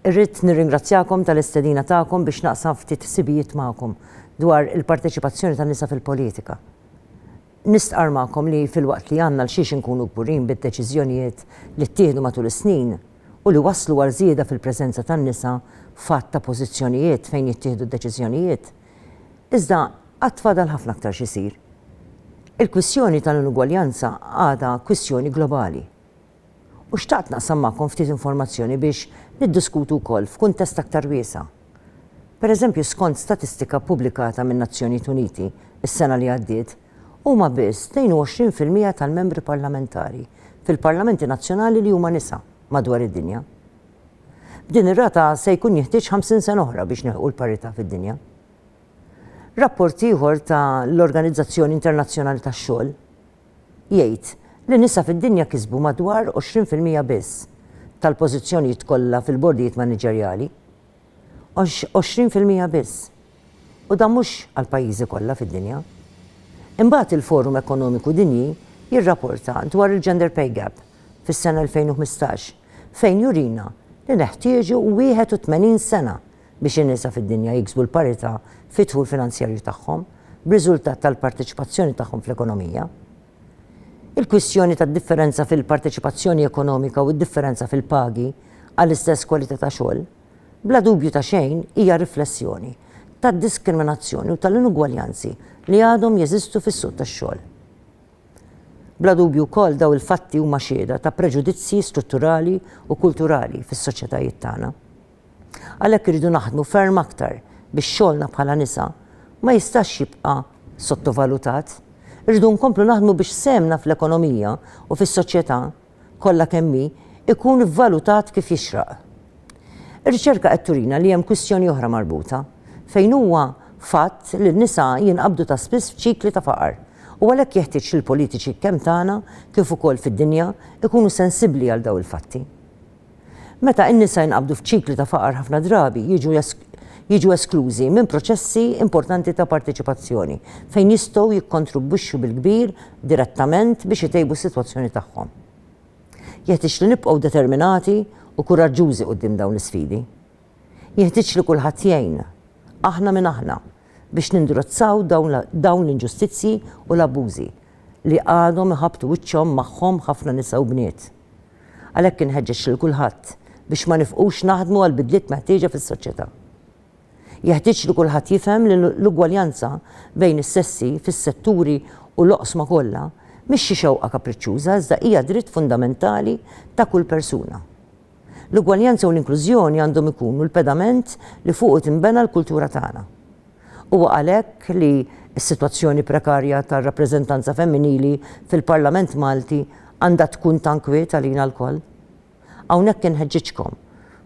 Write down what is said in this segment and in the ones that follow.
Irrid nirringrazzjakom tal-istedina tagħkom biex naqsam ftit ħsibijiet magħkom dwar il-parteċipazzjoni tan-nisa fil-politika. Nistqarr magħkom li filwaqt li għandna l-xiex inkunu kburin bid-deċiżjonijiet li ttieħdu matul is-snin u li wasslu għal żieda fil-preżenza tan-nisa f'għadd ta' pożizzjonijiet fejn jittieħdu d-deċiżjonijiet, Iżda għad fadal ħafna aktar xi jsir. Il-kwistjoni tal-inugwaljanza għadha kwistjoni globali. U xtaqt naqsam magħkom ftit informazzjoni biex niddiskutu wkoll f'kuntest aktar wiesa'. Pereżempju skont statistika ppubblikata min-Nazzjonijiet Uniti s-sena li għaddiet, huma biss 22 fil-mija tal-membri parlamentari fil-parlamenti nazzjonali li huma nisa madwar id-dinja. B'din ir-rata se jkun jeħtieġ 50 sena oħra biex nilħqu l-parità fid-dinja. Rapport ieħor ta' l-Organizzazzjoni Internazzjonali tax-Xogħol jgħid li nisa fid-dinja kisbu madwar 20 fil-mija biss tal-pożizzjonijiet kollha fil-bordijiet maniġerjali. 20 fil-mija biss! u dan mhux għall-pajjiżi kollha fid-dinja. Imbagħad il-Forum Ekonomiku Dinji jirrapporta dwar il-gender pay gap fis-sena 2015 fejn jurina li neħtieġu 81 sena biex in-nisa fid-dinja jiksbu l-parità fid-dħul finanzjarju tagħhom b'riżultat tal-parteċipazzjoni tagħhom fl-ekonomija. Il-kwistjoni tad-differenza fil-parteċipazzjoni ekonomika u d-differenza fil-pagi għall-istess kwalità ta' xogħol bla dubju ta' xejn hija riflessjoni tad-diskriminazzjoni u tal-inugwaljanzi li għadhom jeżistu fis-suq tax-xogħol. Bla dubju wkoll dawn il-fatti huma xhieda ta' preġudizzji strutturali u kulturali fis-soċjetajiet tagħna. Għalhekk irridu naħdmu ferm aktar biex xogħolna bħala nisa ma jistax jibqa' sottovalutat. Irridu nkomplu naħdmu biex sehemna fl-ekonomija u fis-soċjetà kollha kemm hi, ikun vvalutat kif jixraq. Ir-riċerka qed turina li hemm kwistjoni oħra marbuta, fejn huwa fatt li n-nisa jinqabdu ta' spiss f'ċikli ta' faqar, u għalhekk jeħtieġ li l-politiċi kemm tagħna kif ukoll fid-dinja jkunu sensibbli għal dawn il-fatti. Meta n-nisa jinqabdu f'ċikli ta' faqar ħafna drabi jiġu jiġu esklużi minn proċessi importanti ta' parteċipazzjoni fejn jistgħu jikkontribwixxu bil-kbir direttament biex itejbu s-sitwazzjoni tagħhom. Jeħtieġ li nibqgħu determinati u kuraġġużi quddiem dawn l-isfidi. Jenħtieġ li kulħadd jgħin, aħna minn aħna, biex nindurizzaw dawn l-inġustizzji u l-abbużi li għadhom iħabbtu wiċċhom magħhom ħafna nisa u bniet. Għalhekk inħeġġeġ lil kulħadd biex ma nifqux naħdmu għall-bidliet meħtieġa fis-soċjetà. Jeħtieġ li kulħadd jifhem li l-ugwaljanza bejn is-sessi fis-setturi u l-oqsma kollha mhix xi xewqa kapriċċuża iżda hija dritt fundamentali ta' kull persuna. L-ugwaljanza u l-inklużjoni għandhom ikunu l-pedament li fuqu tinbena l-kultura tagħna. Huwa għalhekk li s-sitwazzjoni prekarja tar-rappreżentanza femminili fil-Parlament Malti għandha tkun ta' nkwiet għalina lkoll. Hawnhekk inħeġġiġkom,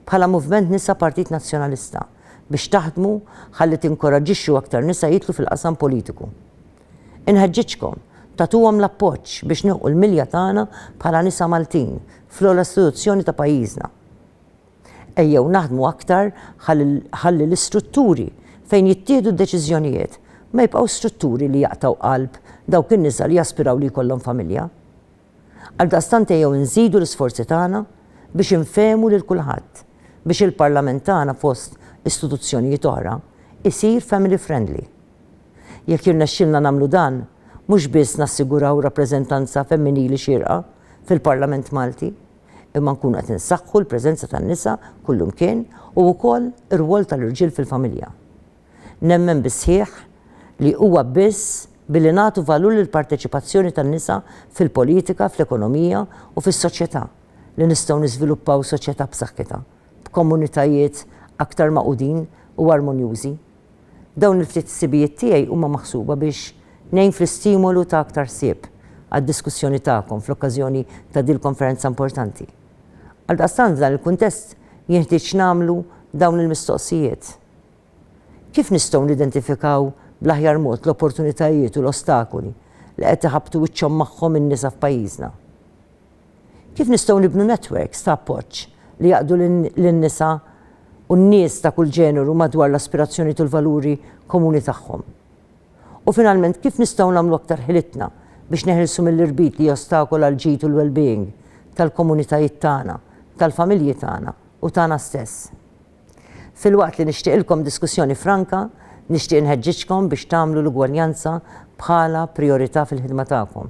bħala Movement Nisa Partit Nazzjonalista, biex taħdmu ħalli tinkoraġġixxu aktar nisa jidħlu fil-qasam politiku. Inħeġġiġkom tagħtuhom l-appoġġ biex nilħqu l-milja tagħna bħala nisa Maltin fl-ogħla istituzzjoni ta' pajjiżna. Ejjew naħdmu aktar ħalli l-istrutturi fejn jittieħdu d-deċiżjonijiet ma jibqgħux strutturi li jaqtgħu qalb dawk in-nisa li jaspiraw li jkollhom familja. Għaldaqstant ejjew inżidu l-isforzi tagħna biex infehmu lil kulħadd biex il-Parlament tagħna fost istituzzjonijiet oħra jsir family friendly. Jekk jirnexxilna nagħmlu dan, mhux biss nassiguraw rappreżentanza femminili xierqa fil-Parlament Malti, imma nkunu qed insaħħu l-preżenza tan-nisa kullimkien u wkoll ir-rwol tal-irġiel fil-familja. Nemmen bis-sħiħ li huwa biss billi nagħtu valur lill-parteċipazzjoni tan-nisa fil-politika, fl-ekonomija u fis-soċjetà li nistgħu niżviluppaw soċjetà b'saħħitha, b'komunitajiet aktar magħqudin u armonjużi. Dawn il-ftit ħsibijiet tiegħi huma maħsuba biex ngħin fl-istimolu ta' aktar ħsieb għad-diskussjoni tagħkom fl-okkażjoni ta' dil-konferenza importanti. Għaldaqstant f'dan il-kuntest jinħtieġ nagħmlu dawn il-mistoqsijiet. Kif nistgħu nidentifikaw bl-aħjar mod l-opportunitajiet u l-ostakoli li qed iħabbtu wiċċhom magħhom in-nisa f'pajjiżna? Kif nistgħu nibnu netwerks ta' appoġġ li jgħaqqdu lin-nisa u n-nies ta' kull ġeneru madwar l-aspirazzjonijiet u l-valuri komuni tagħhom? U finalment, kif nistgħu nagħmlu aktar ħilitna biex neħilsu mill-irbit li jostakola l-ġid u l-wellbeing tal-komunitajiet tagħna, tal-familji tagħna u tagħna stess? Filwaqt li nixtieqilkom diskussjoni franka, nixtieq inħeġġiġkom biex tagħmlu l-ugwaljanza bħala prijorità fil-ħidma tagħkom.